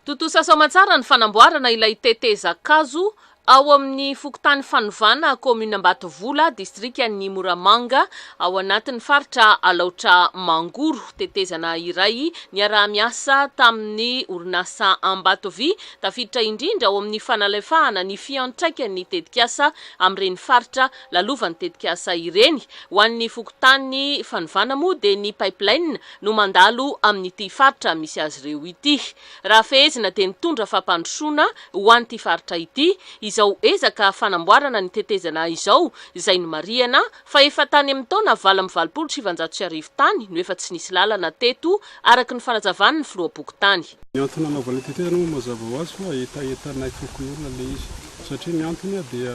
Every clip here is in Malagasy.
Tontosa soamantsara ny fanamboarana ilay tetezan-kazo ao amin'ny fokontany Fanovana, kaominina Ambatovola, distrikan'i Moramanga, ao anatin'ny faritra Alaotra Mangoro. Tetezana iray niaraha-miasa tamin'ny orinasa Ambatovy, tafiditra indrindra ao amin'ny fanalefahana ny fiantraikan'ny tetikasa amin'ireny faritra lalovan'ny tetikasa ireny. Ho an'ny fokontany Fanovana moa dia ny pipeline no mandalo amin'ity faritra misy azy ireo ity. Raha fehezina dia nitondra fampandrosoana ho an'ity faritra ity izao ezaka fanamboarana ny tetezana izao izay nomarihana fa efa tany amin'ny taona valo amby valopolo sy sivinjato sy arivo tany no efa tsy nisy lalana teto araka ny fanazavan'ny filoham-pokontany Ny antony anaovana ny tetezana moa mazava ho azy fa hetahetanay fokonolona ilay izy. Satria ny antony dia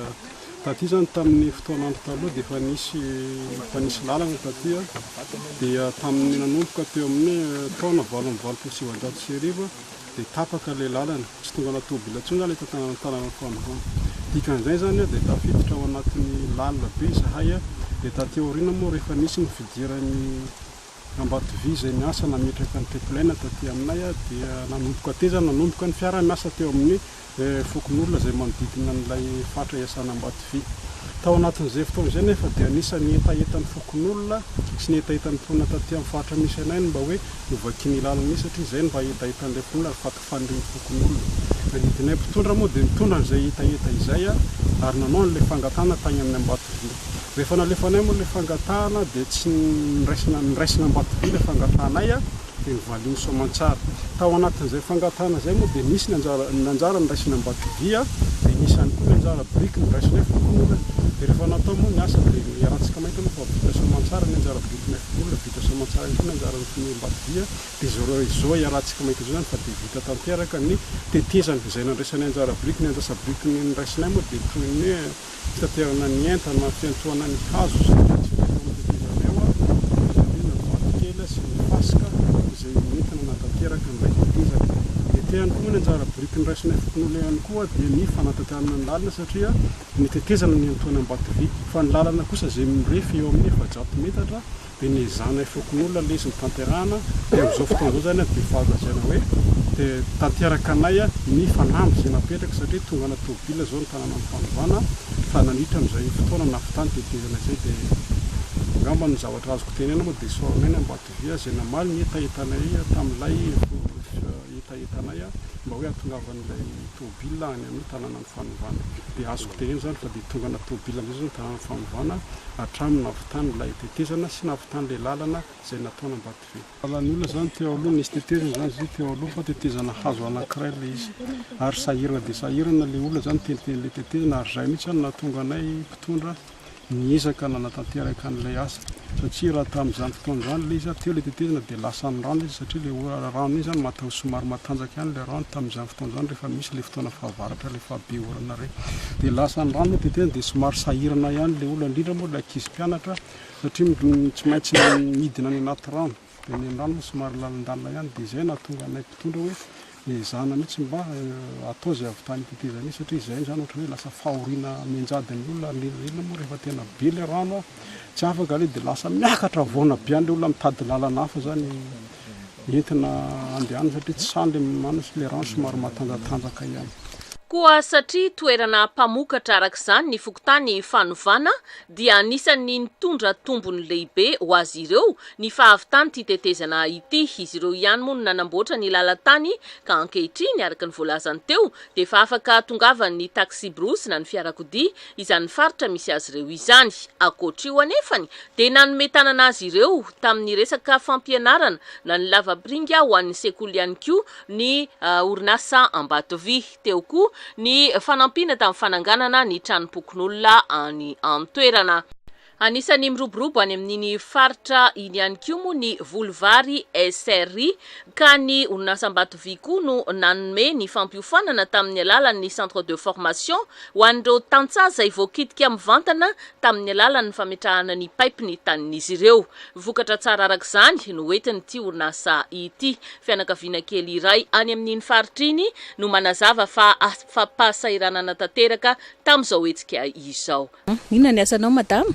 taty izany tamin'ny fotoan'andro taloha dia efa nisy efa nisy lalana taty dia tamin'ny nanomboka teo amin'ny taona valo amby valopolo sy sivinjato sy arivo dia tapaka ilay lalana, tsy tongana tôbila intsony izany eto an-tanànan'ny fanovana. Dikan'izay izany dia tafiditra ao anatin'ny lalina be izahay dia taty aoriana moa rehefa nisy ny fidiran'ny Ambatovia izay niasa nametraka ny tepolaina taty aminay dia nanomboka tety izany nanomboka ny fiara miasa teo amin'ny fokonolona izay manodidina an'ilay faritra iasana Ambatovia. Tao anatin'izay fotoana izay anefa dia anisan'ny hetahetan'ny fokonolona sy ny hetahetan'ny mponina taty amin'ny faritra misy anay ny mba hoe novakian'ny lalana iny satria izay no mba hetahetan'ilay mponina fa fanirian'ny fokonolona. Nanidinay mpitondra moa dia nitondra an'izay hetaheta izay ary nanao an'ilay fangatahana tany amin'ny Ambatovilo. Rehefa nalefanay moa ilay fangatahana dia tsy niraisina niraisina Ambatovilo ilay fangatahanay dia novalian'i Soamantsara. Tao anatin'izay fangatahana izay moa dia nisy ny anjara ny anjara niraisin'ny Ambatovia dia nisy ihany koa ny anjara biriky noraisinay fokonolona. Dia rehefa natao moa ny asa dia iarahantsika mahita aloha fa vita Soamantsara ny anjara birikinay fokonolona, vita Soamantsara ihany koa ny anjaran'ny Ambatovia Dia izao ra izao iarahantsika mahita izao izany fa dia vita tanteraka ny tetezana izay nandraisanay anjara biriky, ny anjasa biriky ny noraisinay moa dia toy ny hoe fitaterana ny entana, fiantohana ny hazo izay hitantsika teo amin'ny tetezana eo ary avy eo indray ny vato kely sy ny fasika izay nentina nanatanteraka an'ilay tetezana. Dia te ihany koa moa ny anjara biriky noraisinay fokonolona ihany koa dia ny fanatanterana ny lalana satria ny tetezana no niantohana am-bato vy fa ny lalana kosa izay mirefy eo amin'ny efajato metatra dia ny zanay fokonolona lesy ny tanterahana dia amin'izao fotoana izao izany dia efa azo lazaina hoe dia tanteraka anay ny fanamby izay napetraka satria tonga anaty tomobilina izao ny tananan'ny fanovana fa nandritra amin'izay fotoana nahavitany tetezana izay dia angamba ny zavatra azoko tenena moa dia Soaranay ny Ambatovia izay namaly ny hetahetanay tamin'ilay hetahetanay mba hoe hahatongavan'ilay tomobilina any amin'ny tananan'ny fanovana. Dia azoko tehina izany fa dia tongana tôbily amin'izay izao ny tanànan'ny fanovana hatramin'ny nahavitany ilay tetezana sy nahavitany ilay lalana izay nataony Ambatobe. Lalan'ny olona izany teo aloha, nisy tetezana izany izy io teo aloha fa tetezana hazo anankiray ilay izy ary sahirana dia sahirana ilay olona izany miteniteny ilay tetezana ary izay mihitsy izany no nahatonga anay mpitondra niezaka nanatanteraka an'ilay asa satria raha tamin'izany fotoana izany ilay izy ary teo ilay tetezana dia lasan'ny rano izy satria ilay ora rano iny izany mataho somary matanjaka ihany ilay rano tamin'izany fotoana izany rehefa misy ilay fotoana fahavaratra ilay fahabe orana ireny dia lasan'ny rano ilay tetezana dia somary sahirana ihany ilay olona indrindra moa ilay ankizy mpianatra satria tsy maintsy midina any anaty rano dia ny an'irany moa somary lalindalina ihany dia izay no nahatonga anay mpitondra hoe ezahana mihitsy mba atao izay ahavitany ny tetezamita satria izay izany ohatran'ny hoe lasa fahoriana mianjady ny olona ary ny ela ela moa rehefa tena be ilay rano tsy afaka ilay dia lasa miakatra havoana be any ilay olona mitady lalana hafa izany entina handehanana satria tsy sahy ilay manana sy ilay rano somary matanjatanjaka ihany. Koa satria toerana mpamokatra araka izany ny fokontany Fanovana dia anisan'ny nitondra tombony lehibe ho azy ireo ny fahavitan'ity tetezana ity. Izy ireo ihany moa no nanamboatra ny lalan-tany ka ankehitriny, araka ny voalazany teo, dia efa afaka tongavan'ny taxi-brousse na ny fiarakodia izany faritra misy azy ireo izany. Ankoatr'io anefany dia nanome tanana azy ireo tamin'ny resaka fampianarana na ny lavapiringa ho an'ny sekoly ihany koa ny orinasa Ambatovy. Teo koa ny fanampiana tamin'ny fananganana ny tranompokonolona any an-toerana. Anisan'ny miroborobo any amin'iny faritra iny ihany koa moa ny voly vary SRI ka ny orinasa Ambatovy koa no nanome ny fampiofanana tamin'ny alalan'ny centre de formation ho an'ireo tantsaha izay voakitika mivantana tamin'ny alalan'ny fametrahana ny paipy ny tanin'izy ireo. Vokatra tsara arak'izany no entin'ity orinasa ity. Fianakaviana kely iray any amin'iny faritra iny no manazava fa afa-pahasahiranana tanteraka tamin'izao hetsika izao. Inona ny asanao madama?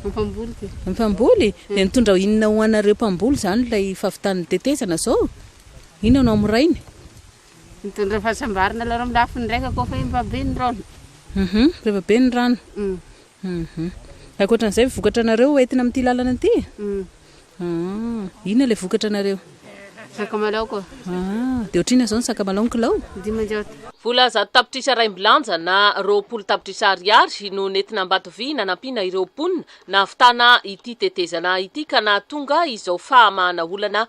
Mampamboly ty. Mampamboly? Dia nitondra inona ho anareo mpamboly izany ilay fahavitan'ny tetezana izao? Inona no amorainy? Mitondra fahasambarana aloha amin'ny lafiny iraika koa fa efa be ny rano. Efa be ny rano. Humm. Ankoatra an'izay vokatra anareo hoentina amin'ity lalana ity? Humm. Ah. Inona ilay vokatra anareo? Sakamalao ko. Ah. Dia ohatr'inona izao ny sakamalao ny kilao? Dimanjato. Vola zato tapitrisa raim-bilanja na roapolo tapitrisa ariary no nentina Ambatovy nanampiana ireo mponina nahavitana ity tetezana ity ka nahatonga izao fahamahana olana